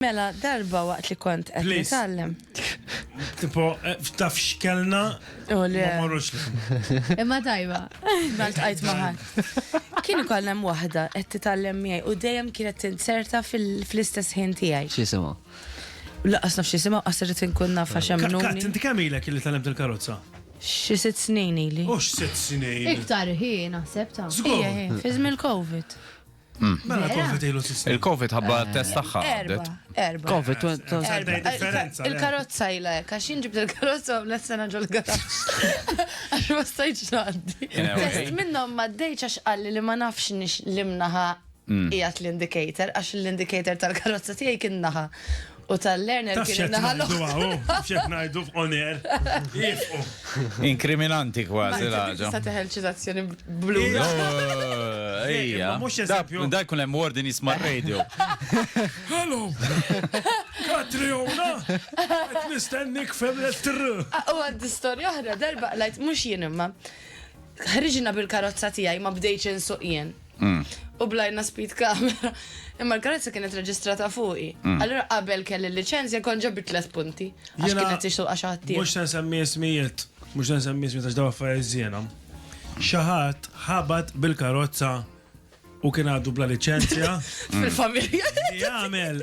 Mela, darba waqt li kont qed Please. nitgħallem. Tipo, eh, taf x'kellna? Oh, le. Ma morrux l-hemm. Imma tajba. Ma ltqajt ma' ħadd. Kien ikoll hemm waħda qed titgħallem miegħi u dejjem kienet tinzerta fil- fl-istess ħin tiegħi. X'jisimha? Laqas naf x'isimha, qas irrid inkun naf għax hemm Kat, nuni. inti kemm ilek li tgħallemt il-karozza? Xi sitt snin ili. U x'sitt snin? Iktar hi naħseb ta'. Żgur. Ija, ija, fi żmien il-Covid. Mela Covid ilu sisna. Il-Covid ħabba eh, test tagħha għaddet. Erba. Covid tu differenza. Il-karozza ila hekk għax jinġib il-karozza u sena ġol garax. Għax ma stajtx ngħaddi. Test minnhom ma ddejx għax qalli li ma nafx nix limnaħa mm. qiegħed l-indicator għax l-indicator tal-karozza tiegħi kien naħa. U tal-learner Taf kien xed in-naħa ngħidu l-oħra. għaw, taf xed ngħidu f'on air. Jifqu. Inkriminanti Ma kważi inti l-ħaġa. tista' teħel ċitazzjoni blu. Ija. Oh, Zej, Ija. imma mhux Da- eżempju. Da jkun hemm warden jisma' r-radio. Hello! Katriona! Qed nistennik fil-tr. Ah, U għaddi storja oħra, darba lajt mhux jien imma. Ħriġna bil-karozza tiegħi ma bdejtx insuq jien. Mm. U blajna speed camera. Imma l-karezza kienet reġistrata fuqi. Mm. Allora qabel kelli l-licenzja kon ġabit tlet punti. Għax kienet tixtu għaxħatti. Mux sen semmi ismijiet, mux sen semmi ismijiet għax dawa fajja zzjena. Xaħat ħabat bil-karozza u kien għaddu bla licenzja. Fil-familja. Jgħamil.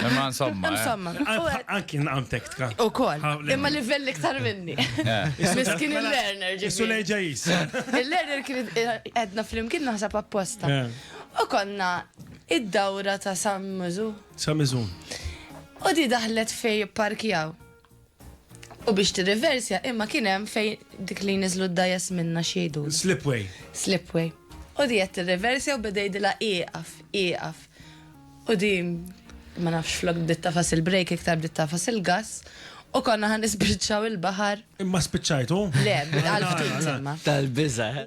Imma insomma. Insomma. Anki nqamtek tka. U kol. Imma livell iktar minni. Miskin il-learner ġifi. Su lejġa jis. Il-learner kien edna fl-imkien naħseb apposta. U konna id-dawra ta' Sammizu. Sammizu. U di daħlet fej parkjaw. U biex tirriversja imma kien hemm fejn dik li jniżlu d-dajes minna xejdu. Slipway. Slipway. U di qed tirriversja u beda jidilha ieqaf, ieqaf. U di ma nafx flok bdiet tafas il-break iktar bdiet tafas il-gas u konna ħan nispiċċaw il-baħar. Imma spiċċajtu? Le, għal ftit imma. Tal-biża'.